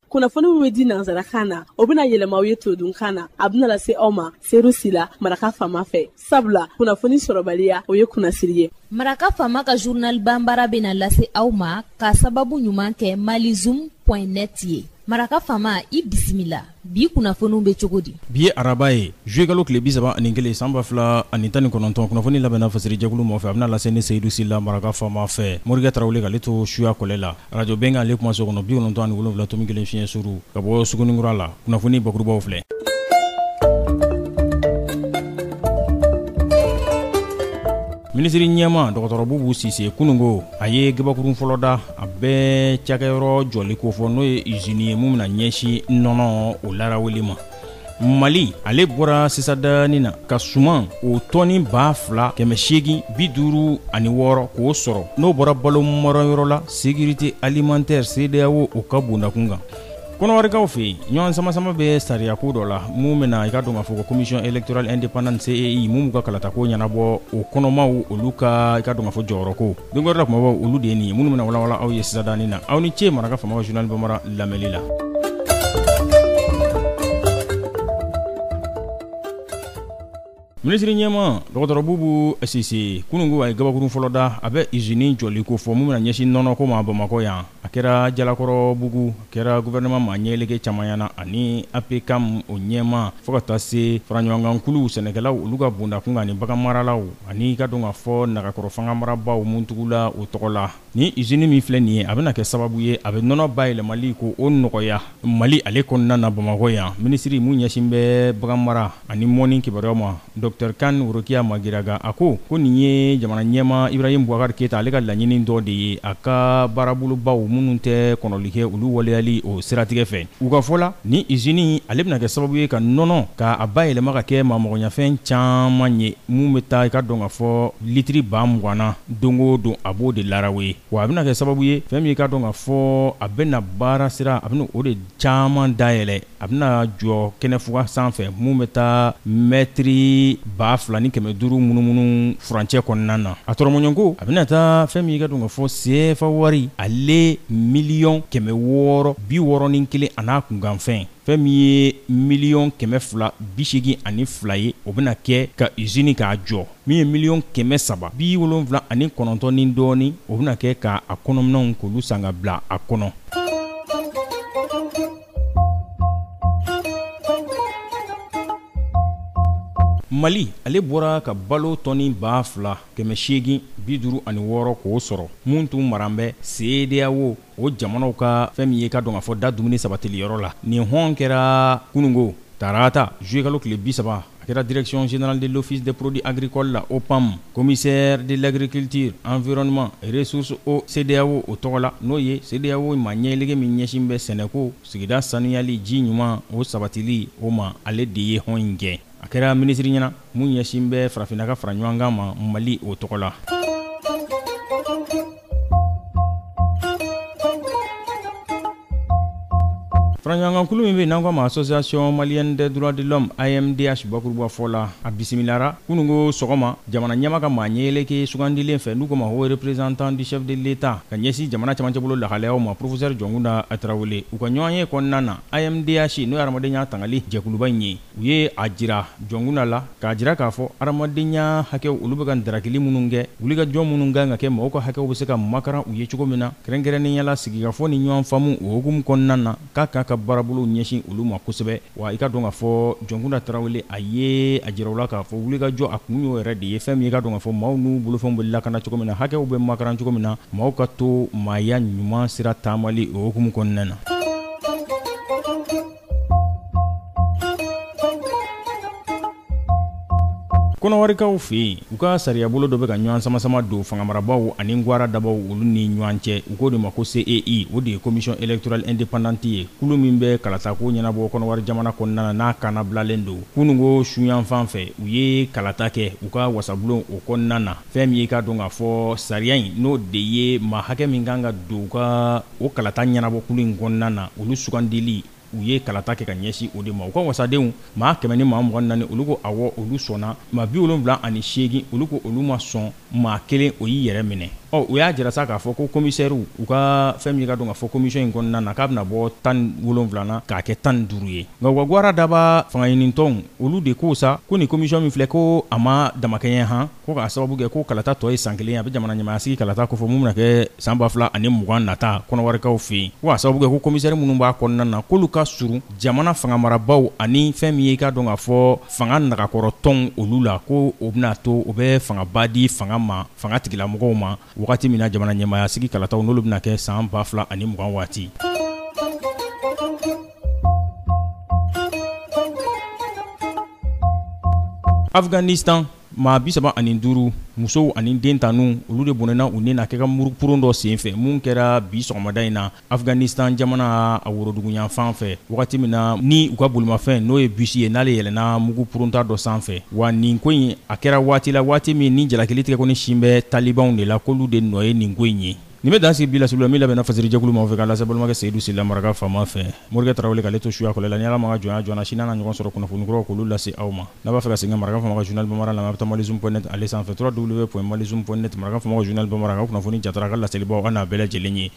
kunnafoni min bɛ di nansarakan na o bɛna yɛlɛma aw ye todunkan na a bɛna lase aw ma seyidu sila maraka faama fɛ sabula kunnafoni sɔrɔbaliya o ye kunnasiri ye maraka faama ka journal banbara bɛna lase aw ma ka sababu ɲuman kɛ malizoom point net ye maraka faama i bisimila bi kunnafoniw bɛ cogo di bi ye araba ye zuyekalo tile bi saba ani kelen san ba fila ani tan ni kɔnɔntɔn kunnafoni labɛnna fasiri jɛkulu mɔfɛ a bɛna lase ne seyidu sila maraka faama fɛ morikɛ tarawele k'ale to suya kɔlɛ la arajo bɛnkan ale kuma so kɔnɔ bi kɔnɔntɔn ani wolonwula tomi kelen fiɲɛ suru ka bɔ suguninkura la kunnafoni bakurubaw filɛ minisiri ɲɛmaa dɔgɔtɔrɔ bubu sise kunungo a ye gabakurun fɔlɔ da a bɛ cakɛyɔrɔ jɔli ko fɔ n'o ye usine ye min bɛna ɲɛsin nɔnɔ o laraweli ma mali ale bɔra sisan danin na ka suman o tɔni ba fila kɛmɛ seegin bi duuru ani wɔɔrɔ k'o sɔrɔ n'o bɔra balo marayɔrɔ la sécurité alimentaire CEDEAO o ka bondakun kan Kɔnɔwarikaw fɛ yen ɲɔgɔn samasama bɛ sariya ko dɔ la min bɛna i ka dɔn k'a fɔ ko commission électorale indépendante CEI min b'u ka kalata ko ɲɛnabɔ o kɔnɔmaw olu ka i ka dɔn k'a fɔ jɔyɔrɔ ko don wɛrɛ la kumabaw olu de ye nin ye minnu bɛna walawala aw ye sisan danin na aw ni ce maraka faama ka journal banbara lamɛnli la Minisiri ɲɛmaa dɔgɔtɔrɔ bubu sise kununko a ye kabakurun fɔlɔ da a bɛ usine jɔli ko fɔ min bɛna ɲɛsin nɔnɔko ma bamakɔ yan a kɛra jalakɔrɔbugu a kɛra gouvernement maa ɲɛlege caman ɲɛ na ani APCAM o ɲɛmaa fo ka taa se faraɲɔgɔnkankuluw sɛnɛkɛlaw olu ka bondakun kan ani baganmaralaw ani i ka dɔn k'a fɔ nagakɔrɔ fanga marabagaw minnu tugula u tɔgɔ la Nin usine min filɛ nin ye, a bɛna kɛ sababu ye, a bɛ nɔnɔ bayɛlɛmali ko o nɔgɔya Mali ale kɔnɔna na Bamakɔ yan. Minisiri mun ɲɛsin bɛ baganmara ani mɔni kibaruyaw ma, Docteur Kane Worokiya Magiraga, a ko ko nin ye jamana ɲɛmaa Ibrahim Boubacar Keita ale ka laɲinin dɔ de ye, a ka baarabolobaw minnu tɛ kɔnɔli kɛ, olu waleyali o siratigɛ fɛ. U ka fɔ la, nin usine in ale bɛna kɛ sababu ye ka nɔnɔ ka a bayɛlɛma ka kɛ maa magoɲafɛn caman ye. min bɛ taa i ka dɔn ka fɔ litiri ba mugan na don o don a b'o de larawe wa a bɛna kɛ sababu ye fɛn min i ka dɔn ka fɔ a bɛna baara sira a bɛna o de caman dayɛlɛ a bɛna jɔ kɛnɛfuga sanfɛ min bɛ taa mɛtiri ba fila ni kɛmɛ duuru munumunu furancɛ kɔnɔna na a tɔrɔmɔɲɔ ko a bɛna taa fɛn min i ka dɔn ka fɔ sefa wari ale miliyɔn kɛmɛ wɔɔrɔ bi wɔɔrɔ ni kelen a n'a kunkanfɛn fɛn min ye miliyɔn kɛmɛ fila bi seegin ani fila ye o bɛna kɛ ka usini k'a jɔ min ye miliyɔn kɛmɛ saba bi wolonwula ani kɔnɔntɔn ni dɔɔni o bɛna kɛ ka a kɔnɔminɛnw k'olu san ka bila a kɔnɔ mali ale bɔra ka balo tɔni ba fila kɛmɛ seegin bi duuru ani wɔɔrɔ k'o sɔrɔ mun tun maran bɛ CEDEAO o jamanaw ka fɛn min ye k'a dɔn k'a fɔ da dumuni sabatili yɔrɔ la nin hɔn kɛra kunungo tarata juillet kalo tile bi saba a kɛra direction générale de l'office des produits agricoles la OPAM commissaire de l'agriculture environnement ressources o CEDEAO o tɔgɔ la n'o ye CEDEAO maa ɲɛleke min ɲɛsin bɛ sɛnɛko sigida saniyali ji ɲuman o sabatili o ma ale de ye hɔn in kɛ A kɛra minisiri ɲɛna min ɲɛsin bɛ farafinna ka fara ɲɔgɔn kan ma Mali o tɔgɔ la faraɲɔgɔnkankulu min bɛ n'an ko a ma association malienne des droits de l'homme AMDH bakuruba fɔ la a bisimilara kununko sɔgɔma jamana ɲɛmaa ka maa ɲɛyɛlɛke sugandilen fɛ n'u ko ma haut représentant du chef de l'État ka ɲɛsin jamana camancɛbolo lahalayaw ma professeur Jɔnkunda Tarawele u ka ɲɔgɔnye kɔnɔna na AMDH n'o ye hadamadenya tangali jɛkuluba in ye u ye a jira jɔnkunda la k'a jira k'a fɔ hadamadenya hakɛw olu bɛ ka ntarakili minnu kɛ wulikajɔ minnu kan ka kɛ mɔgɔw ka hakɛw bɛ se ka makaran u ye cogo min na kɛrɛnkɛrɛnnenya la sigikafɔ ni ɲɔgɔn faamu o hukumu kɔnɔna na k'a k'a ka baarabolow ɲɛsin olu ma kosɛbɛ wa i k'a dɔn k'a fɔ jɔnkunda tarawele a ye a jira u la k'a fɔ wulikajɔ a kun y'o yɛrɛ de ye fɛn min i k'a dɔn k'a fɔ maaw n'u bolofɛnw bɛ lakana cogo min na hakɛw bɛ makaran cogo min na maaw ka to maaya ɲuman sira taamali o hukumu kɔnɔna na kɔnɔwarikaw fɛ yen u ka sariyabolo dɔ bɛ ka ɲɔgɔn samasama don fangamarabaw ani gwara dabaw olu ni ɲɔgɔn cɛ u k'o de ma ko CEI o de ye commission électorale indépendante ye kulu min bɛ kalatako ɲɛnabɔ kɔnɔwari jamana kɔnɔna na n'a kannabilalen don kununko suyanfan fɛ u ye kalata kɛ u ka wasabulon o kɔnɔna na Fɛn min ye i k'a dɔn k'a fɔ sariya in n'o de ye maa hakɛ min kan ka don u ka o kalata ɲɛnabɔkulu in kɔnɔna na olu sugandili u ye kalata kɛ ka ɲɛsin o de ma u ka wasadenw maa kɛmɛ ni maa mugan naani olu ko awɔ olu sɔnna maa bi wolonwula ani seegin olu ko olu ma sɔn maa kelen o y'i yɛrɛ minɛ ɔ u y'a jira sa k'a fɔ ko komisɛriw u ka fɛn min ye k'a dɔn k'a fɔ komisɔn in kɔnɔna na k'a bɛna bɔ tan ni wolonwula na k'a kɛ tan ni duuru ye nka u ka gwara daba fangaɲinitɔnw olu de ko sa ko nin komisɔn min filɛ ko a ma damakɛɲɛ han ko k'a sababu kɛ ko kalata tɔ ye san kelen ye a bɛ jamana ɲɛmaayasigi kalata kofɔ min bɛna kɛ san ba fila ani mugan nata kɔnɔwarikaw fɛ yen ko k'a sababu kɛ ko komisɛri minnu b'a kɔnɔna na k'olu ka surun jamana fangamarabaaw ani fɛn min ye i k'a dɔn k'a fɔ fanga nagakɔrɔtɔnw olu la ko o bɛna to o bɛ fangaba di fanga ma fanga tigilamɔgɔw ma Wagati min na jamana ɲɛmaaya sigi kalataw n'olu bɛna kɛ san 2000 ani mugan waati. Afghanistan, maa 35 musow ani den tannu olu de bɔnɛna u ni na kɛ ka muru-kurun dɔ senfɛ min kɛra bi sɔgɔmada in na. Afghanistan jamana a woroduguyanfan fɛ wagati min na ni u ka bolimafɛn n'o ye bus ye n'ale yɛlɛnna mugu purunta dɔ sanfɛ wa nin ko in a kɛra waati la waati min ni jalakili tigɛkɔni sin bɛ talibanw de la k'olu de nɔ ye nin ko in ye nin bɛ dan sigi bi laseli la min labɛnna fasirijɛkulu maaw fɛ k'a lase balimakɛ seyidu sila maraka faama fɛ morikɛ tarawele k'ale to suya kɔlɛ la ni ala ma an ka jɔnya jɔ an na sini an na ɲɔgɔn sɔrɔ kunnafoni kuraw k'olu lase aw ma n'a b'a fɛ ka segin ka maraka faama ka journal bamaara lamɛn a bɛ taa malizoom point net ale sanfɛ www.malizoom.net maraka faama ka journal bamaara ka kunnafoni jatara a ka laselibaw a n'a bɛɛ lajɛlen ye